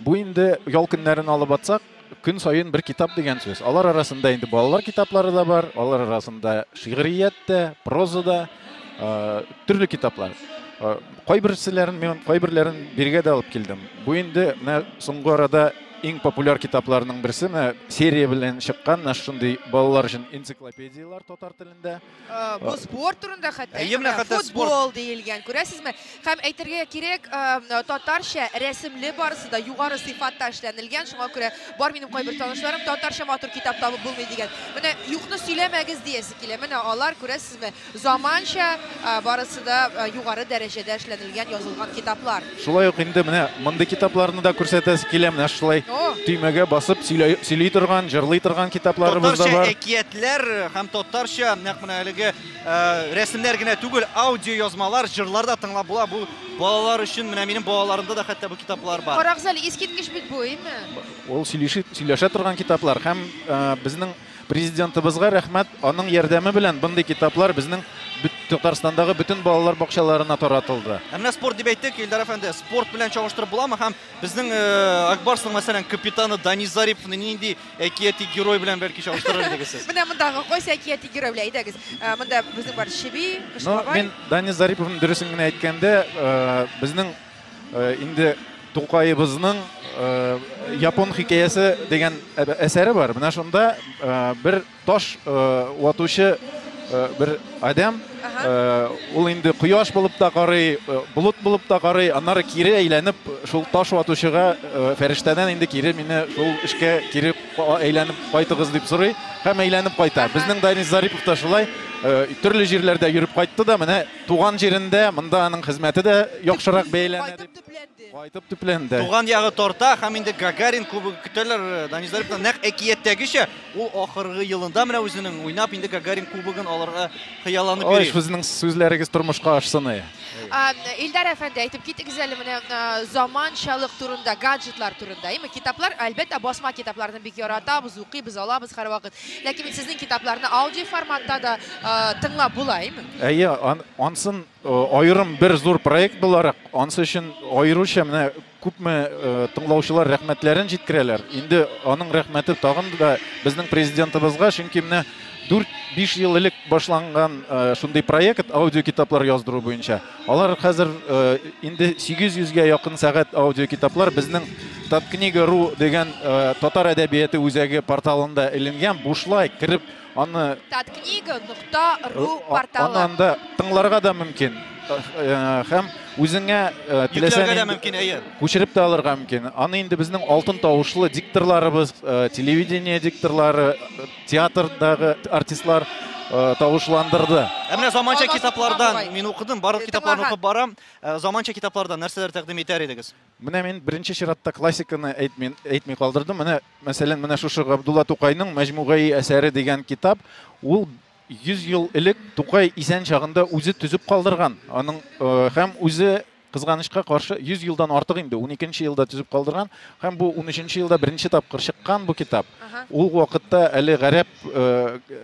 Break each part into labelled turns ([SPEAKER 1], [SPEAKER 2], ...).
[SPEAKER 1] Бу инде ял көннәрен алып атсак, көн саен бер китап дигән сүз. Алар арасында инде балалар китаплары да бар, алар арасында шигърият тә, проза да, төрле китаплар. Кайберселәрен мин кайберләрен биргә дә алып килдем. Бу инде менә соңгы арада иң популяр китапларның берсе, менә серия белән чыккан, менә шундый балалар өчен энциклопедияләр татар телендә. Э, бу спорт
[SPEAKER 2] турында хәтта әйе менә хәтта футбол диелгән күрәсезме һәм әйтергә кирәк э, татарча рәсемле барысы да югары сыйфатта эшләнелгән шуңа күрә бар минем кайбер танышларым татарча матур китап табып булмый дигән менә юкны сөйләмәгез диясе килә менә алар күрәсезме заманча э, барысы да югары дәрәҗәдә эшләнелгән язылган китаплар Шулай ук инде менә
[SPEAKER 1] мондый китапларны да күрсәтәсе килә. Менә шулай төймәгә басып сөйли торган, җырлый торган китапларыбыз да бар. Татарча әкиятләр һәм
[SPEAKER 3] татарча нәкъ менә әлеге рәсемнәр генә түгел, аудиоязмалар, җырлар да тыңлап була. Бу балалар өчен, менә минем балаларымда да хәтта бу китаплар бар. Карагыз әле, искиткеч бит
[SPEAKER 2] бу, әйеме? Ул
[SPEAKER 1] сөйләшә торган китаплар һәм безнең Президентыбызга рәхмәт, аның ярдәме белән мондый китаплар безнең Татарстандагы бөтен балалар бакчаларына таратылды. Ә менә спорт дип әйттек,
[SPEAKER 3] Илдар әфәнде, спорт белән чагыштырып буламы һәм безнең э, Акбарсның мәсәлән капитаны Дани Зариповны нинди әкияти герой белән бәлки чагыштырыр идегез сез? Менә мондагы кайсы әкияти
[SPEAKER 2] герой белән әйдәгез. Э, монда безнең бар Чеби, Кыш бабай. Ну, мин Дани Зариповның
[SPEAKER 1] дөресен генә әйткәндә, э, безнең Инде Тукаебызның япон хикәясе дигән әсәре бар. Менә шунда бер таш ватучы бер адәм, ул инде кояш булып та карый, болыт булып та карый, аннары кире әйләнеп шул таш ватучыга фәрештәдән инде кире мине шул эшкә кире әйләнеп кайтыгыз дип сорый һәм әйләнеп кайта. Безнең Данис Зарипов та шулай төрле җирләрдә йөреп кайтты да менә Туган җирендә, монда аның хезмәте дә яхшырак бәяләнә дип. Кайтып төпләнде. Кайтып төпләнде. Туган ягы тарта
[SPEAKER 3] һәм инде Гагарин кубогы көтәләр э, Данис Зарипны. Нәкъ әкияттәгечә ул ахыргы елында менә үзенең уйнап инде Гагарин кубогын алырга хыялланып Ой, йөри. сезнең сүзләрегез
[SPEAKER 1] тормышка ашсын. ай. А, Илдар
[SPEAKER 2] әфәнде, әйтеп китегез әле менә а, заманчалык турында, гаджетлар турында. Әйме, китаплар, әлбәттә, басма китапларны бик яратабыз, укыйбыз, алабыз һәрвакыт. Ләкин бит сезнең китапларны аудиоформатта да тыңлап була, әйме? Әйе,
[SPEAKER 1] ансын аерым бер зур проект буларак, ансы өчен аеруча менә күпме тыңлаучылар рәхмәтләрен җиткерәләр. Инде аның рәхмәте тагын да безнең президентыбызга, чөнки менә 4-5 ел элек башланган шундый проект аудиокитаплар яздыру буенча. Алар хәзер инде 800 гә якын сәгать аудиокитаплар безнең Таткнига.ру дигән татар әдәбияты үзәге порталында эленгән, бушлай кереп аны Таткнига.ру
[SPEAKER 2] порталы. Анда тыңларга
[SPEAKER 1] да мөмкин. Һәм үзеңә теләсә мөмкин, әйе. Күчереп тә алырга мөмкин. Аны инде безнең алтын тавышлы дикторларыбыз, телевидение дикторлары Театрдагы артистлар э, тавышландырды. Ә менә заманча
[SPEAKER 3] китаплардан мин укыдым, барлык китапларны укып барам. Э, заманча китаплардан нәрсәләр тәкъдим итәр идегез? Менә мин беренче
[SPEAKER 1] чиратта классиканы әйтми, әйтми калдырдым. Менә, мәсәлән, менә шушы Габдулла Тукайның Мәҗмугаи әсәре дигән китап, ул 100 ел элек Тукай исән чагында үзе төзеп калдырган. Аның э, һәм үзе Кызганычка каршы, 100 елдан артык инде, уникенче елда төзеп калдырган, һәм бу унөченче елда беренче тапкыр чыккан бу китап. Ул вакытта әле гарәп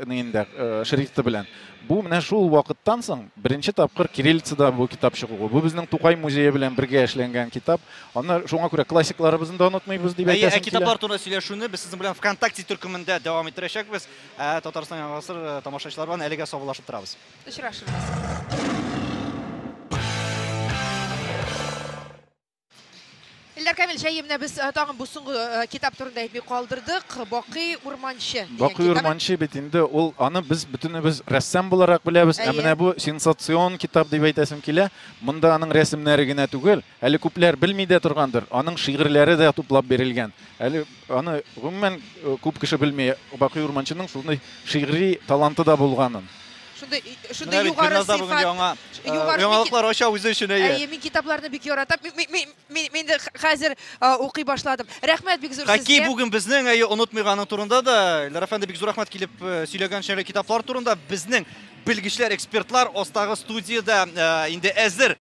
[SPEAKER 1] инде шрифты белән. Бу менә шул вакыттан соң беренче тапкыр кириллицада бу китап чыгуы. Бу безнең Тукай музее белән бергә эшләнгән китап. Аны шуңа күрә классикларыбызны да онытмыйбыз дип әйтәсем килә. Китаплар турында сөйләшүне без
[SPEAKER 3] сезнең белән ВКонтакте төркемендә дәвам иттерәчәкбез. Татарстан Яңа гасыр тамашачылары белән әлегә саубуллашып торабыз.
[SPEAKER 2] Очрашырбыз. Ильдар Камил, җәемне без э, тагын бу соңгы э, китап турында әйтми калдырдык. Бакый урманчы. Бакый урманчы бит
[SPEAKER 1] инде ул аны без бөтенебез рәссам буларак беләбез. Ә менә бу сенсацион китап дип әйтәсем килә. Монда аның рәсемнәре генә түгел, Әле күпләр белми дә торгандыр, аның шигырьләре дә туплап бирелгән. Әле аны гомумән күп кеше белми, Бакый Урманчының шундый шигъри таланты да булганын. Шундый шундый
[SPEAKER 2] югары сыйфат. Бүген яңа яңалыклар
[SPEAKER 3] ача үзе өчен әйе. Әйе, мин китапларны бик
[SPEAKER 2] яратам. Мин дә хәзер укый башладым. Рәхмәт бик зур сезгә. Хәки бүген безнең әйе
[SPEAKER 3] онытмыйганы турында да, Ильдар әфәнде бик зур рәхмәт килеп сөйләгән өчен китаплар турында безнең белгечләр, экспертлар астагы студиядә инде әзер.